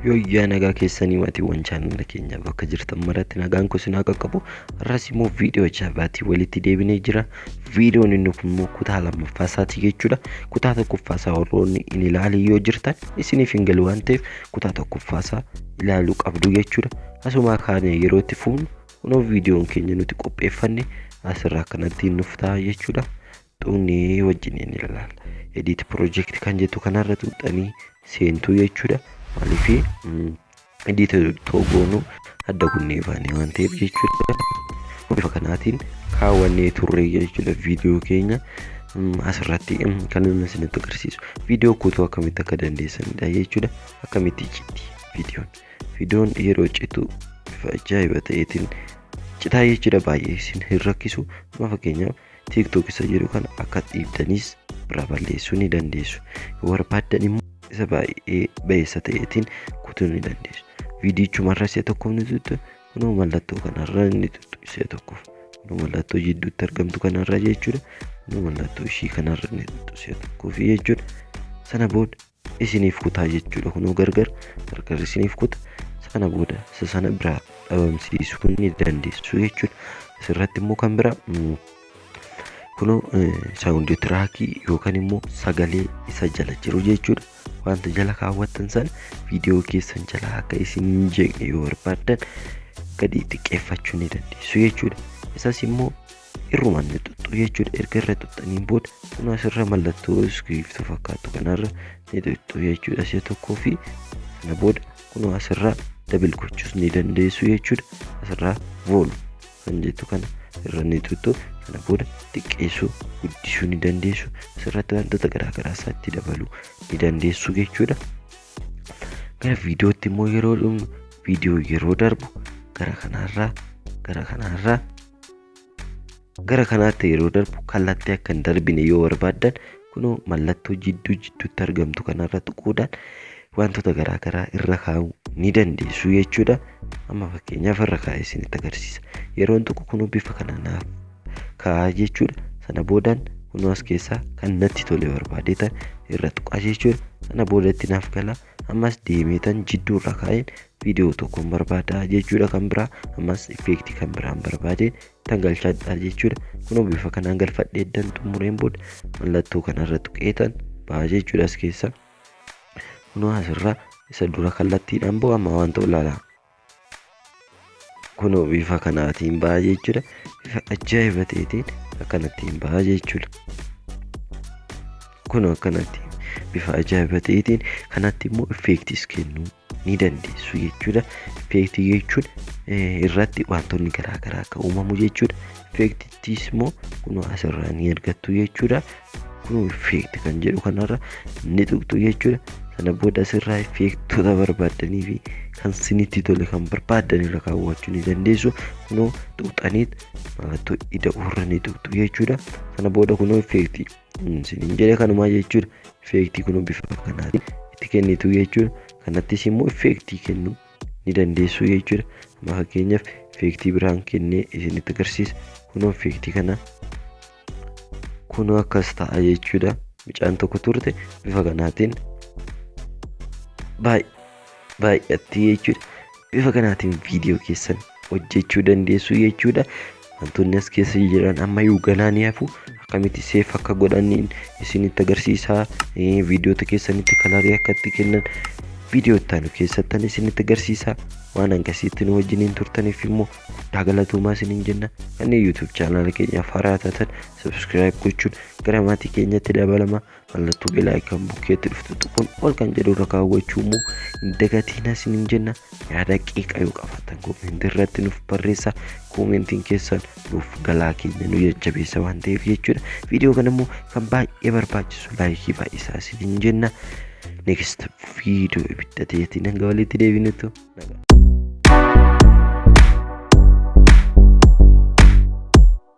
Yoyyaa nagaa keessanii maatiiwwan chaanala keenya bakka jirtan maratti nagaan kun sinaa qaqqabu har'as immoo viidiyoo jaabaatii walitti deebinee jira viidiyoon inni kun immoo kutaa lammaffaa isaatii jechuudha kutaa tokkoffaa isaa warroonni hin ilaalin yoo jirtan isiniif hin galu waan ta'eef kutaa tokkoffaa isaa ilaaluu qabdu jechuudha asumaa kaanee yeroo itti fuunu kunoo viidiyoon keenya nuti qopheeffanne asirraa kanatti nuuf ta'a jechuudha xuqnee wajjiniin ilaal edit project kan jettu kanarra xuqxanii seentuu jechuudha maaliif edit toogoonu adda kunnee baanee waan ta'eef jechuudha bifa kanaatiin kaawwannee turree jechuudha viidiyoo keenya asirratti kan inni isinitti agarsiisu viidiyoo kutuu akkamitti akka dandeessanidha jechuudha akkamitti citti viidiyoon viidiyoon yeroo citu bifa ajaa'iba ta'eetiin citaa jechuudha baay'ee isin hin rakkisu amma fakkeenyaaf TikTok isa jedhu kana akka dhiibdaniis irraa balleessuu ni dandeessu. Yoo barbaaddan immoo isa baay'ee ba'eessa ta'eetiin kutuu ni dandeessu. Viidiyichuma irra si'a tokkoof ni tuttu kunoo mallattoo kanarra ni tuttu si'a tokkoof. Kunoo mallattoo jidduutti argamtu kanarra jechuudha. Kunoo mallattoo ishii kanarra ni tuttu si'a tokkoof jechuudha. Sana booda isiniif kutaa jechuudha kunoo gargar gargar isiniif kuta isa kana booda isa sana biraa dhabamsiisuu ni dandeessu jechuudha asirratti immoo kan biraa mm, kunoo saawundi tiraakii yookaan immoo sagalee isa jala jiru jechuudha wanta jala kaawwattan sana viidiyoo keessan jala akka isin hin jeeqne yoo barbaaddan gadi xiqqeeffachuu ni dandeessu jechuudha isas immoo irrumaan ni xuxxu jechuudha erga irra xuxxaniin booda kun asirra mallattoo iskiiftu fakkaatu kanarra ni xuxxu jechuudha si'a tokkoo fi kana booda kun asirra dabil gochuus ni dandeessu jechuudha asirraa vool kan jettu kana irra ni xuxxu kana booda xiqqeessuu guddisuu ni dandeessu asirratti wantoota garaagaraa isaatti dabaluu ni dandeessu jechuudha gara viidiyootti immoo yeroo dhumnu viidiyoo yeroo darbu gara kanarraa gara kanarraa Gara kanaatti yeroo darbu kallattii akka hin darbine yoo barbaaddan kunoo mallattoo jidduu jidduutti argamtu kanarra tuquudhaan wantoota garaa garaa irra kaa'uu ni dandeessu jechuudha. Amma fakkeenyaaf irra kaa'ee isinitti agarsiisa. Yeroon tuqu kunuu bifa kana naaf kaa'aa jechuudha. Sana boodaan kunuu as keessaa kan natti tole barbaadee ta'e irra tuqaa jechuudha. Sana boodatti naaf galaa. ammas deemeetan jidduu irraa kaa'een viidiyoo tokkoon barbaada jechuudha kan biraa ammas effeektii kan biraan barbaadeen tan galchadha jechuudha kunoo bifa kanaan galfadhee eddan xumureen booda mallattoo kanarra tuqeetan ba'a jechuudha as keessa kunoo asirraa isa dura kallattiidhaan bu'a amma waan ta'u ilaalaa kunoo bifa kanaatiin ba'a jechuudha bifa ajaa'iba ta'eetiin akkanattiin ba'a jechuudha kunoo akkanatti bifa ajaa'iba ta'eetiin kanatti immoo effeektiis kennuu ni dandeessu jechuudha effeektii jechuun eh, irratti wantoonni garaagaraa akka uumamu jechuudha effeektittiis immoo kunoo asirraa ni argattu jechuudha kun effect kan jedhu kanarra ni tuqxu jechuudha sana booda asirraa effektota barbaaddanii fi kan sinitti tole kan barbaaddan irra kaawwachuu ni dandeessu kunoo tuqxaniit mallattoo ida'uurra ni tuqxu jechuudha sana booda kunoo effektii sinin jedhe kanumaa jechuudha effektii kunoo bifa kanaatiin itti kennitu jechuudha kanattis immoo effektii kennu ni dandeessuu jechuudha amma fakkeenyaaf effeektii biraan kennee isinitti agarsiisa kunoo effeektii kana kunoo akkas ta'a jechuudha mucaan tokko turte bifa kanaatiin baay'atti jechuudha bifa kanaatiin viidiyoo keessan hojjechuu dandeessuu jechuudha wantoonni as keessa jiran ammayyuu ganaa ni hafu akkamitti seef akka godhaniin isinitti agarsiisaa viidiyoota keessanitti kalarii akka itti kennan viidiyootaan keessattan isinitti agarsiisaa waan hangasiitti nu wajjiniin turtaniif immoo guddaa galatoomaa isiniin jenna kanneen yuutuub chaanaala keenyaaf haaraa taatan sabskiraayib gochuun gara maatii keenyatti dabalama mallattoo belaayi kan bukkeetti dhuftu tuquun ol kan jedhu irra kaawwachuu immoo hin dagatiina isiniin jenna yaada qeeqa yoo qabaattan koomentii irratti nuuf barreessaa koomentiin keessan nuuf galaa keenya nu jajjabeessa waan ta'eef jechuudha viidiyoo kana immoo kan baay'ee barbaachisu laayikii baay'isaa isiniin jenna next viidiyoo ibidda ta'eetiin hanga walitti deebinutu nagaa